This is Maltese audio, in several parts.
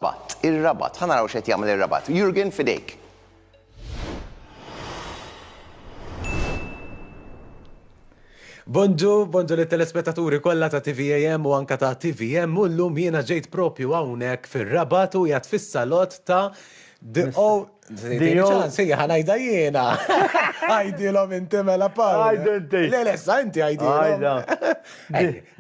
Patt, ir-Rabat, ħa naraw x'qed jagħmel ir-Rabat. Jurgen, f'idejk. Bonġu, bonġu lit-telespettaturi kollha ta' TVAM u anke ta' TVM u llum jiena ġejt propju hawnhekk fir-Rabat u qiegħed fis-salott ta' The Old, Ċansi ħanajda jiena. Għajdilhom inti mela Paul. Għajdu inti. Le lessa inti għajdilhom.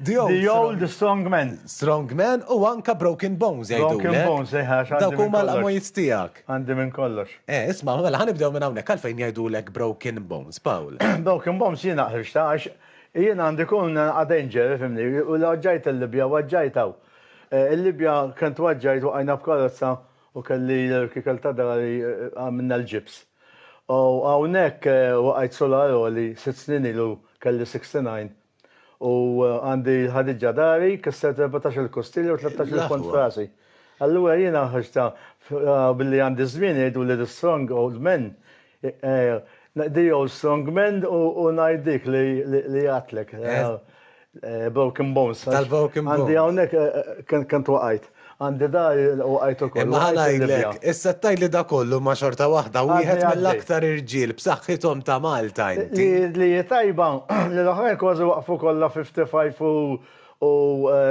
The old strong man. Strong man u anka broken bones jgħidu. Broken bones, eħa. Eh, Dawk huma l-qamwiet tiegħek. Għandi minn kollox. Eh, isma' mela ħanibdew minn hawnhekk għalfejn jgħidulek broken bones, Paul. Broken bones jiena ħriġta għax jiena għandi kun danger, fimni, u l-ġajt il-Libja, waġġajtaw. Eh, Il-Libja kent waġġajt u għajna b'karozza U kelli l-irkikel ta' dari għamilna l-ġibs. U hawnhekk waqajt solar għoli, sitt snin ilu kelli 69 u għandi l-ħadiġġa dari, kissert erbatax-il kustilja u tlettax-il pont f'rasi. Allura jiena ħriġtha billi għandi ż-żmien jgħiduli li strong old men The old strong man u ngħid dik li għadtlek. Broken bones. Tal-broken bones. Għandi hawnhekk kemm twaqajt. Għandi dar u waqajt ukoll. Imma ħa ngħidlek, issa tgħidli dak kollu imma xorta waħda wieħed mill-aktar irġiel b'saħħithom ta' Malta inti. Li hi tajba li l-oħrajn kważi waqfu kollha 55 u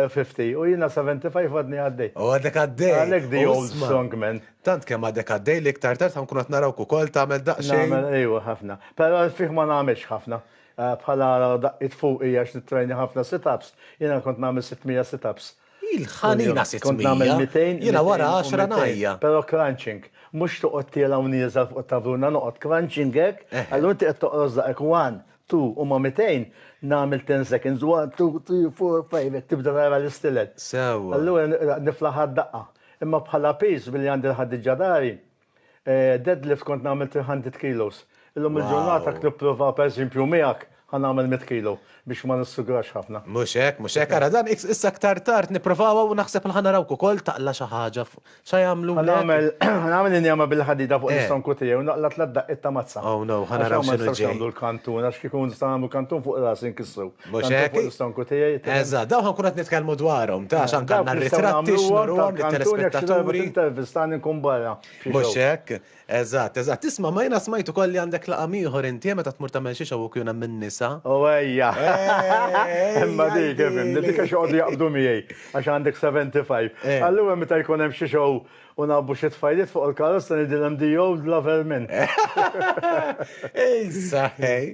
50 u jiena 75 għadni għaddej. U għadek għaddej. Għalhekk the old strong man. Tant kemm għadek għaddej li iktar tard ħankun qed narawk ukoll tagħmel daqsxejn. Nagħmel, ejwa, ħafna. Però għad fih ma nagħmilx ħafna. Bħala daqqiet fuqi għax nittrejna ħafna sit-ups, jiena kont nagħmel sitt mija sit-ups. Il-ħanina sitt mija! Kont nagħmel mitejn, jiena wara għaxra ngħajja. Però crunching. Mhux toqgħod tiela' u nieżel fuq it-tavruna, noqgħod crunching hekk, allura inti qed toqros daqek one, two, u ma' mitejn nagħmel ten seconds, one, two, three, four, five, hekk tibda tara l-istilel. Sewwa. Allura niflaħha d-daqqa. Imma bħala piż billi għandi l-ħaddiġa dari, deadlift kont nagħmel 300 kilos. Illum il-ġurnata jekk nipprova pereżempju miegħek ħa nagħmel mitt kilo biex ma nissugrax ħafna. Mhux hekk, mhux hekk. Ara dan issa aktar tard nipprovawha u naħseb li ħa narawk ukoll taqla' xi ħaġa fuq x'ħa jagħmlulek. Ħa nagħmel, ħa nagħmel injama bil-ħadida fuq l-istonku tiegħi u naqla' tliet daqqiet ta' mazza. Oh no, ħa naraw x'inhu ġej. Għax hawn ma nistgħux nagħmlu l-kantun għax kieku nistgħu nagħmlu kantun fuq rasi nkissru. Mhux Tant hekk? fuq l-istonku tiegħi. Eżatt, Eżatt, dawn ħankun qed nitkellmu dwarhom, taf, anke għandna Dawk nistgħu r-ritratti nagħmluhom x'nurhom tal-kantun jekk xi darba lit-telespettaturi. tintervistani nkun barra f'xi Mhux show. hekk? Eżatt, eżatt. Isma', ma jiena smajt ukoll li għandek laqam ieħor inti, eh, meta tmur tagħmel xi show u kjun hemm in-nisa. O ejja! Eh, Imma ejja, dik, ifhimni, dik għajdili. għax joqogħdu jaqbdu miegħi, għax għandek 75. Eh. Allura meta jkun hemm xi show U nagħbbu xi tfajliet fuq il-karozza ngħidilhom the old lover minn. Issa ħej,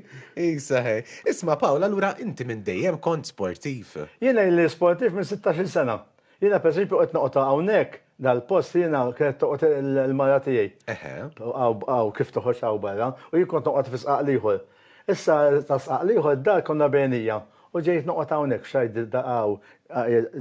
issa ħej. Isma' Pawl, allura inti minn dejjem kont sportiv? Jiena ili sportiv minn sittax-il sena. Jiena per eżempju qed noqgħod hawnhekk dal-post jiena kienet toqgħod il-mara tiegħi. Eħe. Hawn kif toħroġ hawn barra u jien kont noqgħod fi sqaq l-ieħor. Issa ta' sqaq l-ieħor id-dar konna bejnija u ġejt noqgħod hawnhekk f'xahar d-daqaw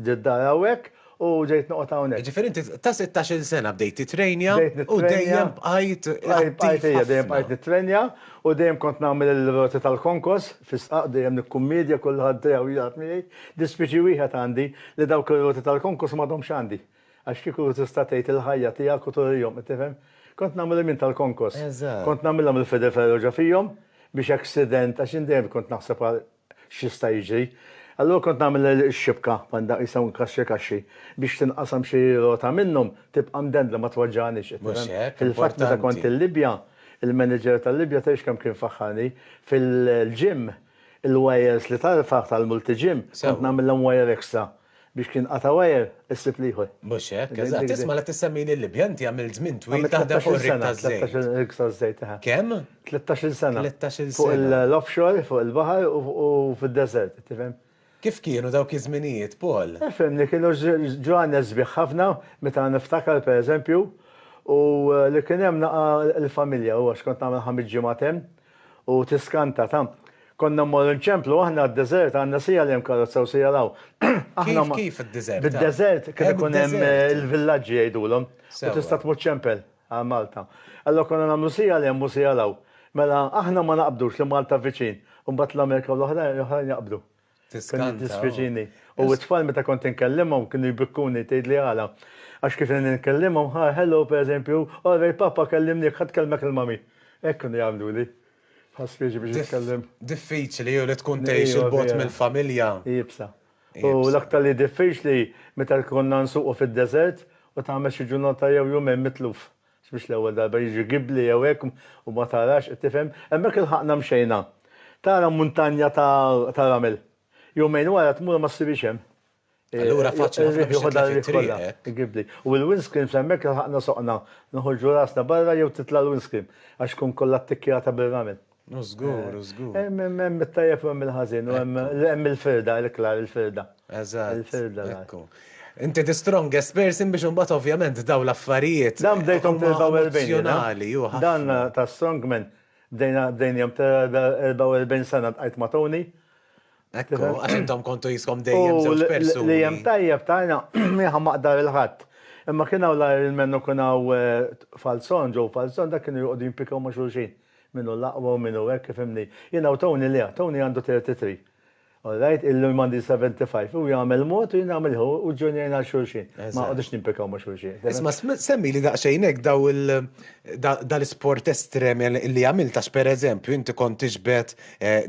d-dar hawnhekk u ġejt noqgħod hawnhekk. Ġifieri inti ta' sittax-il sena bdejt titrenja u dejjem bqajt attiv ħafna. Dejjem bqajt nitrenja u dejjem kont nagħmel il-roti tal-konkos fi sqaq dejjem nikkummedja kulħadd dejjem jilgħab miegħi. Dispieċi wieħed għandi li dawk ir-roti tal-konkos m'għadhomx għandi. Għax kieku tista' tgħid il-ħajja tiegħek u turihom, qed tifhem? Kont nagħmel il-min tal-konkos. Eżatt. Kont nagħmilha mill-fede ferro ġo fihom biex accident, għax jien dejjem kont naħseb għal x'jista' jiġri. Allura kont nagħmel ix-xibka, bħal dawk qisha inkaxxi kaxxi, biex tinqasam xi rota minnhom, tibqa' mdendla ma twaġġagħnix, qed tifhem? Mhux hekk, importanti. Fil-fatt meta kont il-Libja, il-manager tal-Libja tgħidx kemm kien faħħarni, fil-gym, il-wires li tarfa' tal-multi-gym, kont nagħmilhom wire extra. Biex kien qata' wire, issib l-ieħor. Mhux hekk, eżatt. Isma' la tissemmini l-Libja, inti għamilt żmien twil taħdem fuq ir-rig taż-żejt. Għamilt 13-il sena, rig taż-żejt. Kemm? 13-il sena. 13-il sena. Fuq l-offshore, fuq il-baħar u fid-deżert, tifhem. Kif kienu dawk iż-żminijiet, Paul? Ifhimni, kienu ġranet sbieħ ħafna, meta niftakar, pereżempju, u li kien hemm naqa' l-familja, u għax kont nagħmel ħames ġimgħat hemm, U tiskanta, ta. Konna mmorru nċemplu aħna għad-deżert, għandna siegħel hemm karozza u siegħel hawn. Aħna Kif, ma. kif id-deżert? Bid-deżert kien Hemm ikun hemm deżert. il-villaġġi jgħidulhom u Sewwa. tista' tmur ċempel għal Malta. Allura konna nagħmlu siegħel hemm u siegħel hawn. Mela aħna ma naqbdux li Malta viċin u mbagħad l-Amerika u l-oħrajn l-oħrajn jaqbdu. Tiskanta. Kien jiddispjaċini. U t-tfal meta kont inkellimhom kienu jbikkuni tgħidli għala. Għax kif kien inkellimhom, ha, hello pereżempju, all right papa kellimnik, ħa tkellmek il-mami. Hekk kienu jagħmluli. Bħal spieġi biex nitkellem. Diffiċli li tkun tgħix 'il bogħod mill-familja. Iebsa. U l-aktar li diffiċli meta konna nsuqu fid-deżert u tagħmel xi ġurnata jew jumejn mitluf Mhix l-ewwel darba jiġri gibbli jew hekk u ma tarax, qed tifhem. Hemmhekk ilħaqna mxejna. Tara muntanja ta' ramel. Jumejn wara tmur u ma ssibhiex hemm. Allura faċli ħafna biex titlef it-triq hekk. Il-gibbli. U l-windscreen f'hemmhekk ilħaqna soqna. Noħorġu rasna barra jew titla' l-windscreen għax tkun kollha ttikkjata bir-ramel. U żgur, u żgur. Hemm it-tajjeb u hemm il-ħażin, u hemm il-firda, il-klar il-firda. Eżatt. Il-firda. Ekku. Inti the strongest person biex imbagħad ovvjament daw l-affarijiet. Dan bdejthom 44 sena. Dan ta' strongman bdejnihom 44 sena tqajt ma' Tony. Ekku, għax intom kontu jiskom dejjem żewġ persuni. U li hemm tajjeb ta' jiena jiena ma aqdar il-Ħadd. Imma kien hawn l-Ironman u kien hawn Falzon, Joe Falzon, dak kienu joqogħdu jimpikaw ma' xulxin. Min hu l-aqwa u min hu hekk, ifhimni. Jiena u Tony le, Tony għandu 33. All right, illi m'għandi 75. Hu jagħmel mod u jien nagħmel ieħor u ġġunjajna għal xulxin. Ma noqogħdux nimpikaw ma' xulxin. Isma' semmili daqsxejn hekk daw il, dal-isport estrem li għamilt għax pereżempju inti kont tiġbed,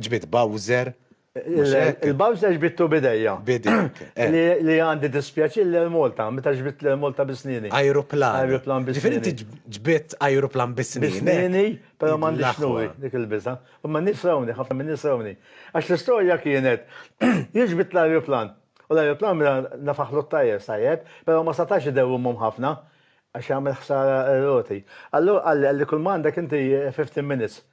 ġbidt Bowser, Il-bams li ġbittu bidejja. Bidejja. Li għandi dispjaċi li l-Malta, meta ġbitt l-Malta bisnini. Ajruplan. Ajruplan bisnini. Ġifieri ġbitt ajruplan bisnini. Bisnini, però m'għandi xnuri dik il-biża. U ma nies rawni, ħafna minn nies rawni. Għax l-istorja kienet, jien ġbitt l-ajruplan. U l-ajruplan mela nafaħlu t-tajjer sajjeb, però ma setax idewwimhom ħafna għax jagħmel ħsara r-roti. Allura qalli, qalli kull ma għandek inti 15 minutes.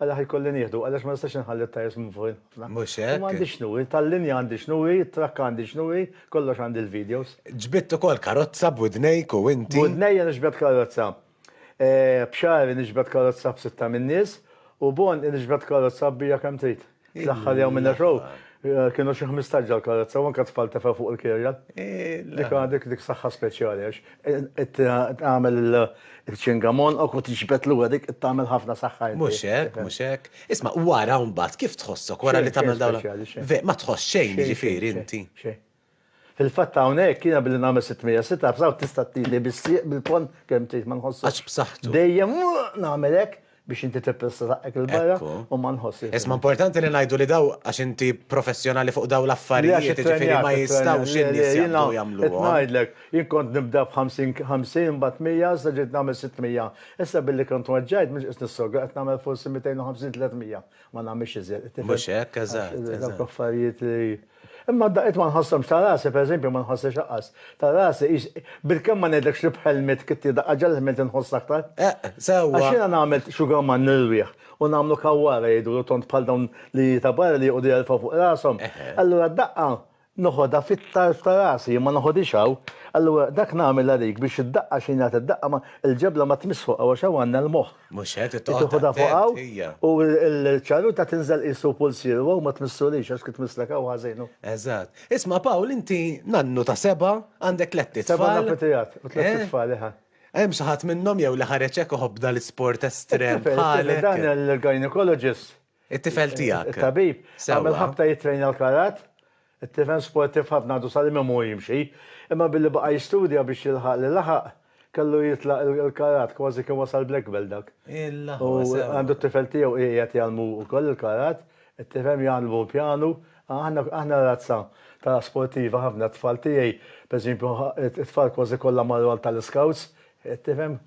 Għaliex ħajkolli nieħdu, għaliex ma nistax inħalli t-tajers minn fuq il-ħafna. Mhux hekk. Imma għandi x'nu, tal-linja għandi x'nu, t-trakka għandi x'nu, kollox għandi l-videos. Ġbidt ukoll karozza b'widnejk u inti? B'widnejja niġbed karozza. B'xagħri niġbed karozza b'sitta min-nies u b'għonqi niġbed karozza kbira kemm trid. L-aħħar jew minn show kienu xi 15 ġew karozza u anke tfal tefgħu fuq il-kirja. Dik għandek dik saħħa speċjali għax tagħmel il-ċingamon u tiġbed lura dik tagħmel ħafna saħħa. Mhux hekk, mhux hekk. Isma' wara mbagħad kif tħossok wara li tagħmel dawn? Ma tħoss xejn jiġifieri inti. Fil-fatt hawnhekk jiena billi nagħmel 600 sit ups hawn tista' ttieni bis-sieq bil-ponn kemm trid ma nħossux. Għaġ b'saħħtu. Dejjem nagħmel hekk biex inti tippressa saqqek 'il barra u ma nħossx. Isma' importanti li ngħidu li dawn għax inti professjonali fuq dawn l-affarijiet jiġifieri ma jistgħux in-nies jaqbdu jagħmluhom. Qed ngħidlek, jien kont nibda b' 50 50 imbagħad 100 issa ġejt nagħmel 600. Issa billi kont weġġajt m'iniex qiegħed nissogra qed nagħmel forsi 250 300. Ma nagħmilx iżjed. Mhux hekk, eżatt. Dawk affarijiet li. Imma daqqiet ma nħosshomx ta' rasi, pereżempju, ma nħossiex aqqas ta' rasi, ix, bilkemm ma ngħidlekx li b'ħelmiet kitti daqqa ġara l-ħmil tinħoss aktar. Eqq, sewwa. Għax jiena nagħmel sugar man nirwieħ u nagħmlu kawwara jidhru tond bħal dawn li ta' barra li joqogħdu jerfgħu fuq rashom, allura d-daqqa noħodha fit-tarf ta' rasi, jien ma noħodhiex hawn, allura dak nagħmel għalik biex id-daqqa xi ngħid id-daqqa ma, il-ġebla ma tmiss fuq hawn għax hawn għandna l-moħħ. Mhux hekk, trid toqgħod attent. Tieħudha fuq hawn u l-ċaruta tinżel qisu pulsier u hawn ma tmissulix għax kif tmisslek hawn ħażin hu. Eżatt. Isma' Pawl inti nannu ta' seba', għandek tlett itfal. Seba' nafu tiegħek u tlett itfal eħe. Hemm xi ħadd minnhom jew li ħareġ hekk iħobb dal-isport estrem bħalek? Dan il-gynaecologist It-tifel tiegħek. It-tabib għamel ħabta jittrejna l-karat. It-tifel sportiv ħafna għadu sal-imiem hu jimxi. Imma billi baqa' jistudja biex jilħaq li laħaq, kellu jitlaq il-karat, kważi kien wasal black belt dak. U għandu t-tifel tiegħu qiegħed jgħallmu wkoll il-karat. It-tifhem jgħallmu l-pjanu. Aħna aħna razza ta' sportiva ħafna. T-tfal tiegħi, pereżempju, it-tfal kważi kollha marru għal tal-iskawts. Qed tifhem?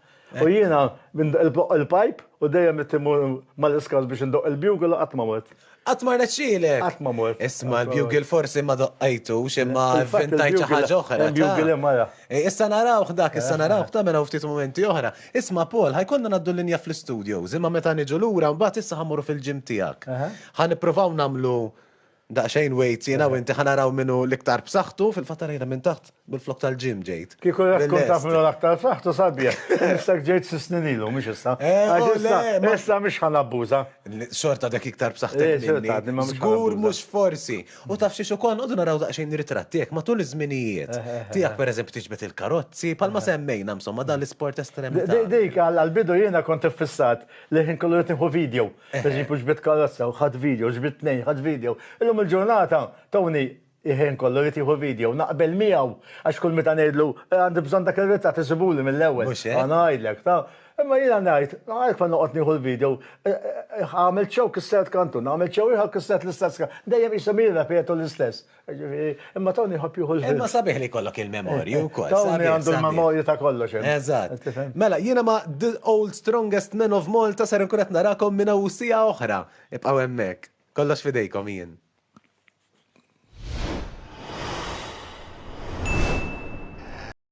U jiena indoqq il-pajp u dejjem qed immur mal-iskart biex indoqq il-bugle u qatt ma mort. Qatt ma rnexxielek? Qatt ma mort. Isma' l-bugle forsi ma doqqajtux imma vvintajt xi ħaġa oħra, ta? Il-bugle hemm wara. Issa narawh dak, issa narawh ta' minn hawn ftit mumenti oħra. Isma' Paul, ħa jkollna ngħaddu l-linja fl-istudios, imma meta niġu lura mbagħad issa ħa mmorru fil-gym tiegħek. Ħa nippruvaw nagħmlu Daqsxejn wait jiena u inti ħa naraw min hu l-iktar b'saħħtu, fil-fatt għalajna minn taħt bil-flokk tal-gym ġejt. Kieku jaf kont taf min hu l-aktar b'saħħtu sabiħ, mistek ġejt sitt snin ilu, mhux issa. Għax issa, issa mhux ħa nabbuża. Xorta għadek iktar b'saħħtek minni. Żgur mhux forsi. U taf xiex ukoll, noqogħdu naraw daqsxejn ritratti hekk matul iż-żminijiet. Tiegħek pereżempju tiġbed il-karozzi, bħalma semmejna insomma dan l-isport estrem. Dik għall-bidu jiena kont iffissat li l-ħin kollu rrid nieħu video. Pereżempju ġbidt karozza u ħadt video, ġbidt tnejn, ħadt video. Illum il-ġurnata Tony il-ħin kollu jrid jieħu video, naqbel miegħu għax kull meta ngħidlu għandi bżonn dak ir-ritratt isibuli mill-ewwel. Mhux hekk? Ngħidlek, taf. Imma jiena ngħid, għalhekk meta noqgħod nieħu l-video, għamilt show kissert kantun, għamilt show ieħor kissert l-istess kantun, dejjem qishom jirrepetu l-istess. Ġifieri, imma Tony jħobb jieħu l-ħin. Imma sabiħ li jkollok il-memorji wkoll. Tony għandu l-memorji ta' kollox. Eżatt. Mela, jiena ma' The Old Strongest Men of Malta ser inkun qed narakom minn hawn siegħa oħra. Ibqgħu hemmhekk. Kollox f'idejkom jien.